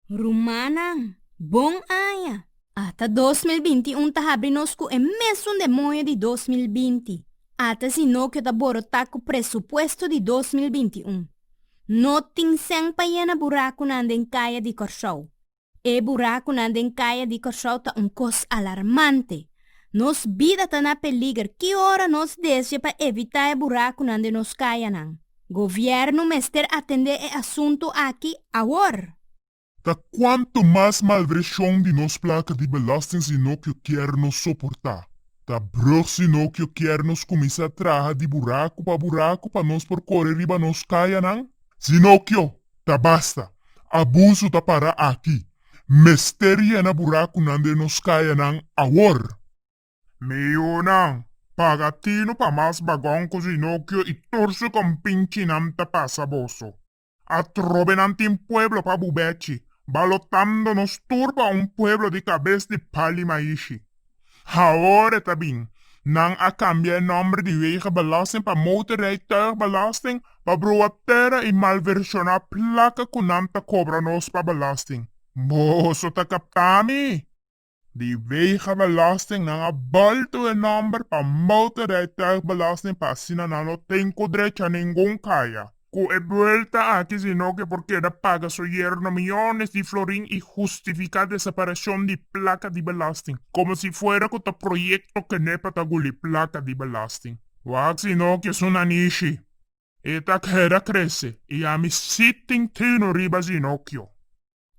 Rumannan, bon aña! Ata dos mil binti un ta habri nos ku e mesun demoño di dos mil binti. Ata si no ke ta borotá ku presupuesto di dos mil binti un. No tin sèn pa yena burakunan den kaya di Kòrsou. E burakunan den kaya di Kòrsou ta un kos alarmante. Nos bida ta na peliger ki ora nos desdje pa evitá e burakunan den nos kayanan. Gobièrnu mester atendé e asuntu aki awor! Ta kuantu mas malvershon di nos plaka di belòsting si no kio kier nos soportá. Ta brùg si no kio kier nos kuminsá traha di buraku pa buraku pa nos por kore riba nos kayanan? Si no kio, Ta basta. Abusu ta para aki. Mester yena burakunan den nos kayanan awor. Miunan, paga tinu pa mas bagon ku Zinokio i tur su kompincinan ta pasa boso. Atrobe nan tin pueblo pa bubechi, balotando nos tur pa un pueblo di kabes di pal i maishi. Haora ta bin, nan a kambia e nòmber di Wegenbelasting pa Motorrijtuigbelasting pa broa tera i malvershona plaka ku nan ta kobra nos pa belasting. Boso ta kaptá mi? Di Wegenbelasting nan a bòltu e nòmber pa Motorrijtuigbelasting pa asina nan no ten ku drecha ningun kaya. cu e buelta aki sino que por keda paga su yerno miyones di florin y justifica desapariacion di placa di belasting como si fuera cu ta proyecto kende pa ta guli placa di belasting. Wak sino que su nanishi. E ta keda crece y ami sitting tino riba sinokio.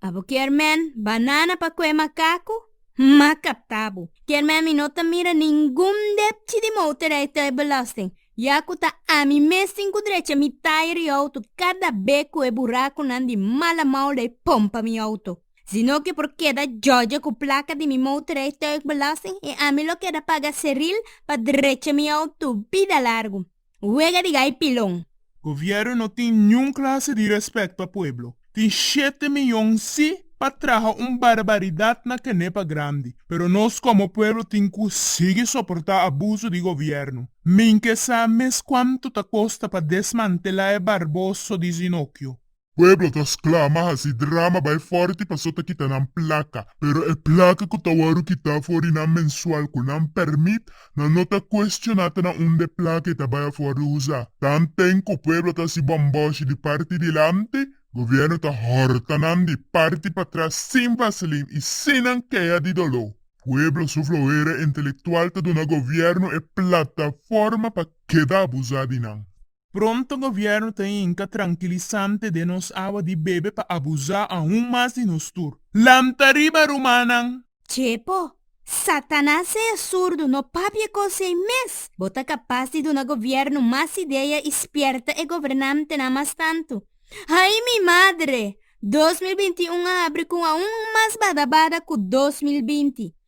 A bo kier men banana pa kue makaku? M'a kaptá bo. Kier men mi no ta mira ningun depchi di motorrijtuig i belasting, ya ku ta ami mes tin ku drecha mi taya di outo kada be ku e burakunan di mala mouda e pompa mi outo. Si no ke por keda jòjè ku plaka di mi motorrijtuig belasting i ami lo keda paga seril pa drecha mi outo bida largu. Wega di gai pilon. Govièrnu no tin niun klase di rèspèt pa pueblo. Tin shete miyon sí pa traha un barbaridat na kenepa grandi, pero nos komo pueblo tin ku sigui soportá abuso di govièrnu. Min ke sa mes kuantu ta kosta pa desmantelá e barboso di Zinokio. Pueblo ta sklama, hasi drama, bai fòrti paso ta kita nan plaka. Pero e plaka ku ta wòru kitá for di nan mensual ku nan pèrmit, nan no ta kuestioná ta na unda e plaka e ta bai afòr di usa. Tanten ku pueblo ta hasi bòmbòshi di parti dilanti, gobièrnu ta hòrta nan di parti patras sin vaselin i sin nan kea di doló. Pueblo su floera intelektual ta duna gobièrnu e plataforma pa keda abusá di nan. Pronto gobièrnu ta hinka trankilisante den nos awa di bebe pa abusá aun mas di nos tur. Lanta riba rumannan! Chepo, Satanas ei asurdu, no papia kos ei mes! Bo ta kapas di duna gobièrnu mas idea i spièrta e gobernantenan mas tantu. Ai mi madre! Dos mil binti i un a habri ku un aun mas bada bada ku dos mil binti.